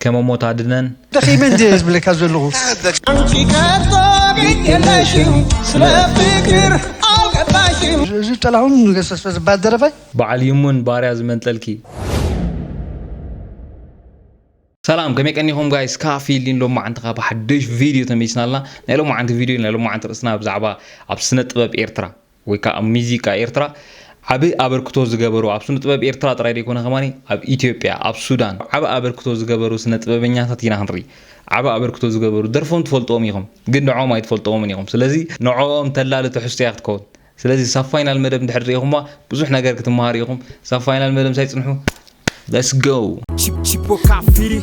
ከመ ሞት ኣድነን። ደኺመ እንድየ ዝብለካ ዘለኹ። ኣንቺ ከቶ ግድ የለሽም ስለ ፍቅር ኣልገባሽም። እዚ ጥላሁን ገሰሰ ዝባሃል ደረፋይ። ባዓል ይሙን ባርያ ዝመንጠልኪ። ሰላም ከመይ ቀኒኹም ጋይስ ካፊ ሊን ሎማዓንትኻ ብሓደሽ ቪድዮ ተመሊስና ኣለና ናይ ሎማዓንቲ ቪድዮ ናይ ሎማዓንቲ ርእስና ብዛዕባ ኣብ ስነ ጥበብ ኤርትራ ወይ ከኣ ኣብ ሚዚቃ ኤርትራ ዓቢ ኣበርክቶ ዝገበሩ ኣብ ስነጥበብ ኤርትራ ጥራይ ደይኮነ ከማኒ ኣብ ኢትዮጵያ ኣብ ሱዳን ዓቢ ኣበርክቶ ዝገበሩ ስነጥበበኛታት ኢና ክንርኢ ዓቢ ኣበርክቶ ዝገበሩ ደርፎም ትፈልጥዎም ኢኹም ግን ንዕኦም ኣይትፈልጥዎምን ኢኹም ስለዚ ንዕኦም ተላሊ ትሕዝቶ እያ ክትከውን ስለዚ ሳብ ፋይናል መደብ እንድሕር ሪኢኹማ ብዙሕ ነገር ክትመሃሩ ኢኹም ሳብ ፋይናል መደብ ምሳይ ጽንሑ let's go። Chip Chipoca Firi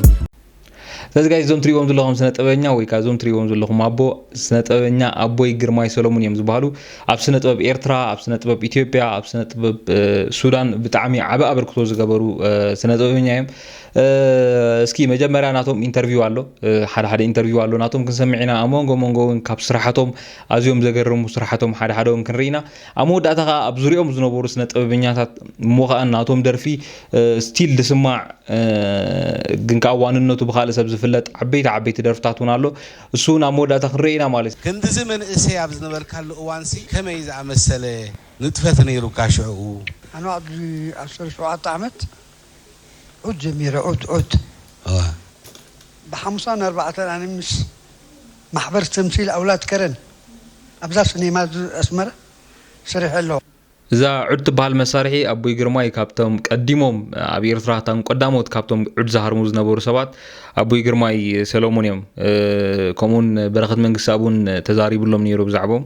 ስለዚ ጋይስ እዞም ትሪእዎም ዘለኹም ስነ ጥበበኛ ወይ ከዓ እዞም ትሪእዎም ዘለኹም ኣቦ ስነ ጥበበኛ ኣቦይ ግርማይ ሰሎሙን እዮም ዝበሃሉ ኣብ ስነ ጥበብ ኤርትራ ኣብ ስነ ጥበብ ኢትዮጵያ ኣብ ስነ ጥበብ ሱዳን ብጣዕሚ ዓበ ኣበርክቶ ዝገበሩ ስነ ጥበበኛ እዮም እስኪ መጀመርያ ናቶም ኢንተርቪው ኣሎ ሓደ ሓደ ኢንተርቪው ኣሎ ናቶም ክንሰምዕ ኢና ኣብ መንጎ መንጎ እውን ካብ ስራሓቶም ኣዝዮም ዘገርሙ ስራሓቶም ሓደ ሓደ እውን ክንርኢ ኢና ኣብ መወዳእታ ከኣ ኣብ ዙርያኦም ዝነበሩ ስነ ጥበበኛታት እሞ ከኣ ናቶም ደርፊ ስቲል ዝስማዕ ግን ከኣ ዋንነቱ ብካልእ ሰብ ዝፍለጥ ዓበይቲ ዓበይቲ ደርፍታት ውን ኣሎ እሱ ውን ኣብ መወዳእታ ክንሪኦ ኢና ማለት እዩ። ክንድዚ መንእሰይ ኣብ ዝነበርካሉ እዋንሲ ከመይ ዝኣመሰለ ንጥፈት ነይሩካ ሽዕኡ? ኣነ ኣብዚ ዓሰርተ ሸውዓተ ዓመት ዑት ጀሚረ ዑት ዑት እወ። ብሓሙሳን ኣርባዕተን ኣነ ምስ ማሕበር ተምሲል ኣውላድ ከረን ኣብዛ ስኔማ ኣስመራ ሰሪሐ ኣለኹ። እዛ ዑድ ትበሃል መሳርሒ ኣቦይ ግርማይ ካብቶም ቀዲሞም ኣብ ኢርትራ እቶም ቀዳሞት ካብቶም ዑድ ዝሃርሙ ዝነበሩ ሰባት ኣቦይ ግርማይ ሰለሙን እዮም ከምኡውን በረኸት መንግስትኣብ ውን ተዛሪብሎም ኔሩ ብዛዕብኦም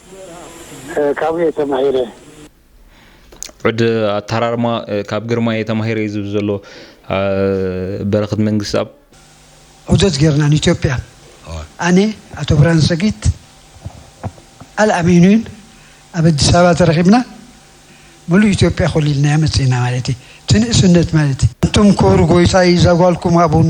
ካብኡ እየ ተማሂረ። ዑድ ኣተሃራርማ ካብ ግርማይ እየ ተማሂረ እዩ ዝብል ዘሎ በረኽት መንግስትኣብ። ዑደት ጌርና ንኢትዮጵያ ኣነ፣ ኣቶ ብርሃን ሰጊት፣ ኣልኣሚኑን ኣብ ኣዲስ ኣበባ ተረኺብና ምሉእ ኢትዮጵያ ኮሊልናያ መጺእና ማለት እዩ። እቲ ንእስነት ማለት። ኣንቱም ክቡር ጎይታይ እዛ ጓልኩም ሃቡኒ።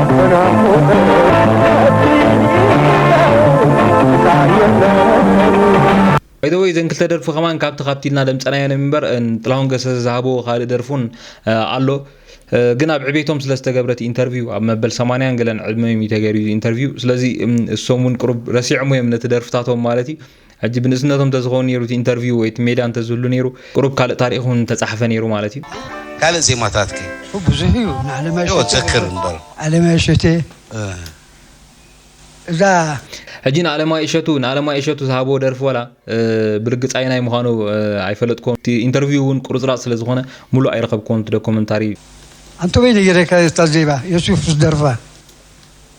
ባይ ዘ ወይ እዘን ክልተ ደርፊ ከማን ካብቲ ካብቲ ኢልና ደምፀናየን እምበር ጥላሁን ገሰሰ ዝሃበዎ ካልእ ደርፉን ኣሎ ግን ኣብ ዕቤቶም ስለ ዝተገብረ እቲ ኢንተርቪው ኣብ መበል 80 ገለን ዕድመ እዩ ተገይሩ ኢንተርቪው ስለዚ እሶም እውን ቅሩብ ረሲዖም እዮም ነቲ ደርፍታቶም ማለት እዩ ሕጂ ብንእስነቶም እንተዝኸውን ኔሩ እቲ ኢንተርቪው ወይ እቲ ሜዳ እንተዝህሉ ኔሩ ቁሩብ ካልእ ታሪኽ እውን ምተጻሕፈ ኔሩ ማለት እዩ። ካልእ ዜማታት ከ? ብዙሕ እዩ ንኣለማዮ ዶ ትዘክር እምበር። ኣለማዮ እሸቴ እዛ። ሕጂ ንኣለማዮ እሸቱ ንኣለማዮ እሸቱ ዝሃብዎ ደርፊ ዋላ ብርግጽ ኣየናይ ምዃኑ ኣይፈለጥክዎን እቲ ኢንተርቪው እውን ቁርጽራጽ ስለ ዝኾነ ምሉእ ኣይረኸብክዎን እቲ ዶኮመንታሪ። ኣንቶበይ ነጊረካ እታ ዜማ የሱፍ ዝደርፋ።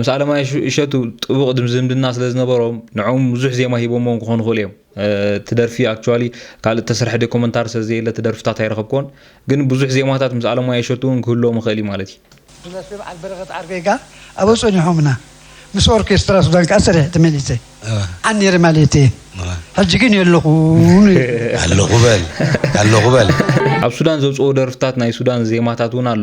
ምስ ኣለማየሁ እሸቱ ጥቡቕ ድም ዝምድና ስለ ዝነበሮም ንዕኦም ብዙሕ ዜማ ሂቦሞም ክኾኑ ይኽእሉ እዮም። እቲ ደርፊ ኣክቹዋሊ ካልእ እተሰርሐ ደኮመንታሪ ስለ ዘየለ እቲ ደርፍታት ኣይረኸብክዎን። ግን ብዙሕ ዜማታት ምስ ኣለማየሁ እሸቱ እውን ክህልዎም ይኽእል እዩ ማለት እዩ። ብደርፊ በዓል በረኸት ዓርከይ ከኣ ኣብኡ ጸኒሖምና። ምስ ኦርኬስትራ ሱዳን ከኣ ሰሪሐ ተመሊሰ። ዓን ነይረ ማለት እየ። ሕጂ ግን የለኹን ይብል። ኣለኹ በል ኣለኹ በል። ኣብ ሱዳን ዘውጽኦ ደርፍታት ናይ ሱዳን ዜማታት እውን ኣሎ።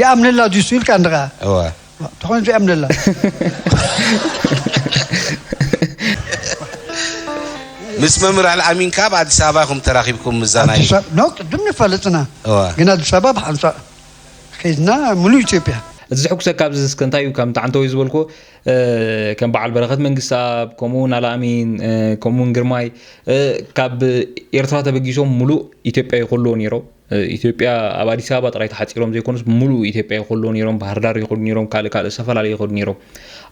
ይኣምነላ ድዩሱ ኢልካ እንድኻ እወ ተኾይኑ ዘይኣምነላ ምስ መምህር ኣልኣሚን ካብ ኣዲስ ኣበባ ኢኹም ተራኺብኩም ምዛናይ ኣዲስ ኣበባ ኖ ቅድም ንፈልጥና እወ ግን ኣዲስ ኣበባ ብሓንሳእ ከይድና ሙሉእ ኢትዮጵያ እቲ ዘሕጉሰካ ኣብዚ እስከ እንታይ እዩ ከም ጣዕንተወይ ዝበልኩ ከም በዓል በረኸት መንግስታብ ከምኡ እውን ኣላኣሚን ከምኡ እውን ግርማይ ካብ ኤርትራ ተበጊሶም ሙሉእ ኢትዮጵያ ይኹልዎ ነይሮም ኢትዮጵያ ኣብ ኣዲስ ኣበባ ጥራይ ተሓፂሮም ዘይኮኑስ ብምሉእ ኢትዮጵያ ይኸሉ ነይሮም ባህርዳር ይኸዱ ነይሮም ካልእ ካልእ ዝተፈላለዩ ይኸዱ ነይሮም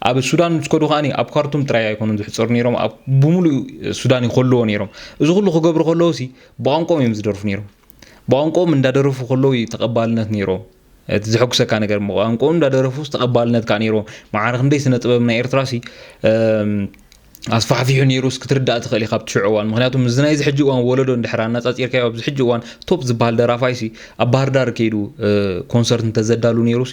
ኣብ ሱዳን ምስ ከዱ ከዓኒ ኣብ ካርቱም ጥራይ ኣይኮኑን ዝሕፀሩ ነይሮም ኣብ ብምሉእ ሱዳን ይኸልዎ ነይሮም እዚ ኩሉ ክገብሩ ከለዉ ሲ ብቋንቆም እዮም ዝደርፉ ነይሮም ብቋንቆም እንዳደረፉ ከለዉ ተቐባልነት ነይሮም እቲ ዘሐጉሰካ ነገር ቋንቋኡ እንዳደረፉስ ተቐባልነት ከዓ ነይሮ መዓር ክንደይ ስነ ጥበብ ናይ ኤርትራ ሲ ኣስፋሕፊሑ ነይሩስ ክትርዳእ ትኽእል ኢኻ ብትሽዑ እዋን ምክንያቱ ምዚ ናይዚ ሕጂ እዋን ወለዶ እንድሕር ኣነፃፂርካዮ ኣብዚ ሕጂ እዋን ቶፕ ዝበሃል ደራፋይሲ ኣብ ባህርዳር ከይዱ ኮንሰርት እንተዘዳሉ ነይሩሲ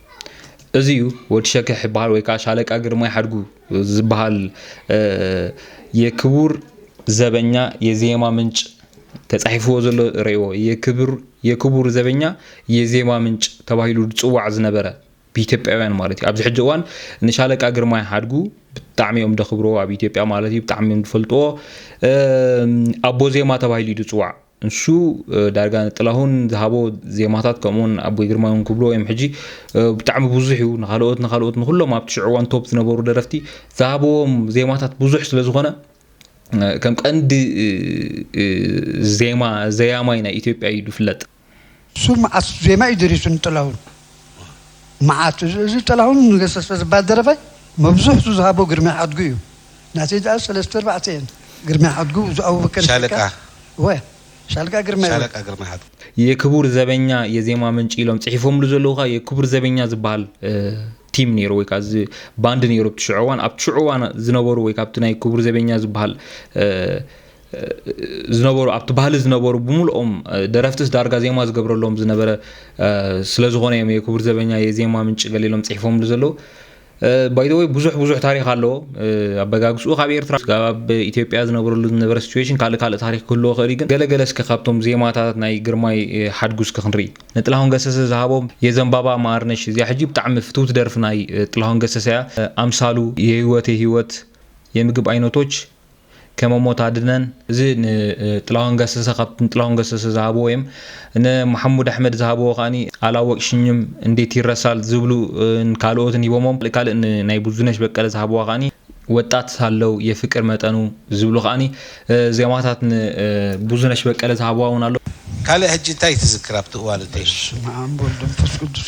እዚ'ዩ ወዲ ሸከሕ ይበሃል ወይ ከዓ ሻለቃ ግርማይ ሓድጉ ዝበሃል የክቡር ዘበኛ የዜማ ምንጭ ተፃሒፍዎ ዘሎ ረእዎ የክቡር ዘበኛ የዜማ ምንጭ ተባሂሉ ዝፅዋዕ ዝነበረ ብኢትዮጵያውያን ማለት እዩ ኣብዚ ሕጂ እዋን ንሻለቃ ግርማይ ሓድጉ ብጣዕሚ እዮም ደኽብርዎ ኣብ ኢትዮጵያ ማለት እዩ ብጣዕሚ እዮም ዝፈልጥዎ ኣቦ ዜማ ተባሂሉ እዩ ዝፅዋዕ ንሱ ዳርጋ ንጥላሁን ዝሃቦ ዜማታት ከምኡውን ኣቦይ ግርማይ እውን ክብልዎ እዮም ሕጂ ብጣዕሚ ብዙሕ እዩ ንካልኦት ንካልኦት ንኩሎም ኣብቲ ሽዑ እዋን ቶፕ ዝነበሩ ደረፍቲ ዝሃብዎም ዜማታት ብዙሕ ስለ ዝኾነ ከም ቀንዲ ዜማ ዘያማይ ናይ ኢትዮጵያ እዩ ዝፍለጥ እሱ መዓት ዜማ እዩ ደሪሱ ንጥላሁን መዓት እዚ ጥላሁን ንገሰሰ ዝባል ደረፋይ መብዝሕቱ ዝሃቦ ግርማይ ሓድጉ እዩ ናተይ ድኣ ሰለስተ ኣርባዕተ እየን ግርማይ ሓድጉ እዙ ኣቡበከር ሻለቃ እወ ሻለቃ ግርማይ ሻለቃ ግርማይ ሓድጉ። የክቡር ዘበኛ የዜማ ምንጪ ኢሎም ጽሒፎምሉ ዘለዉ ከኣ የክቡር ዘበኛ ዝበሃል ቲም ነይሩ ወይ ከኣ እዚ ባንድ ነይሩ ኣብቲ ሽዑ እዋን ኣብቲ ሽዑ እዋን ዝነበሩ ወይ ከኣ ኣብቲ ናይ ክቡር ዘበኛ ዝበሃል ዝነበሩ ኣብቲ ባህሊ ዝነበሩ ብምልኦም ደረፍትስ ዳርጋ ዜማ ዝገብረሎም ዝነበረ ስለዝኾነ እዮም የክቡር ዘበኛ የዜማ ምንጭ ገሊሎም ጽሒፎምሉ ዘለዉ ባይዘወይ ብዙሕ ብዙሕ ታሪክ ኣለዎ ኣበጋግስኡ ካብ ኤርትራ ኣብ ኢትዮጵያ ዝነብረሉ ዝነበረ ሲትዌሽን ካልእ ካልእ ታሪክ ክህልዎ ክእል ግን ገለገለ እስከ ካብቶም ዜማታት ናይ ግርማይ ሓድጉ እስከ ክንርኢ ንጥላሁን ገሰሰ ዝሃቦም የዘንባባ ማርነሽ እዚኣ ሕጂ ብጣዕሚ ፍትውቲ ደርፊ ናይ ጥላሁን ገሰሰ እያ ኣምሳሉ የህይወቴ ህይወት የምግብ ኣይነቶች ከመሞት ኣድነን እዚ ንጥላሁን ገሰሰ ካብቲ ንጥላሁን ገሰሰ ዝሃብዎ እም ንማሕሙድ ኣሕመድ ዝሃብዎ ከዓኒ ኣላወቅሽኝም እንዴት ይረሳል ዝብሉ ካልኦትን ሂቦሞም ካልእ ናይ ብዙነሽ በቀለ ዝሃብዋ ከዓኒ ወጣት ሳለው የፍቅር መጠኑ ዝብሉ ከዓኒ ዜማታት ንብዙነሽ በቀለ ዝሃብዋ እውን ኣሎ። ካልእ ሕጂ እንታይ ትዝክር ኣብቲ እዋን እቲ? በስመኣም ወወልድ ወመንፈስ ቅዱስ።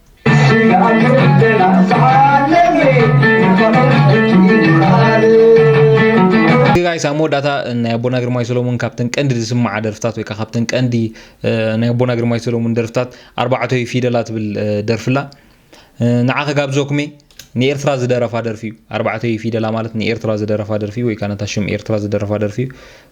ጋይስ ኣብ መወዳእታ ናይ ኣቦና ግርማይ ሰሎሙን ካብተን ቀንዲ ዝስምዓ ደርፍታት ወይ ከዓ ካብተን ቀንዲ ናይ ኣቦና ግርማይ ሰሎሙን ደርፍታት ኣርባዕተ ፊደላ ትብል ደርፍላ ንዓ ከጋብዘኩሜ ንኤርትራ ዝደረፋ ደርፊ እዩ ኣርባዕተ ፊደላ ማለት ንኤርትራ ዝደረፋ ደርፊ ወይ ከዓ ነታ ሽም ኤርትራ ዝደረፋ ደርፊ እዩ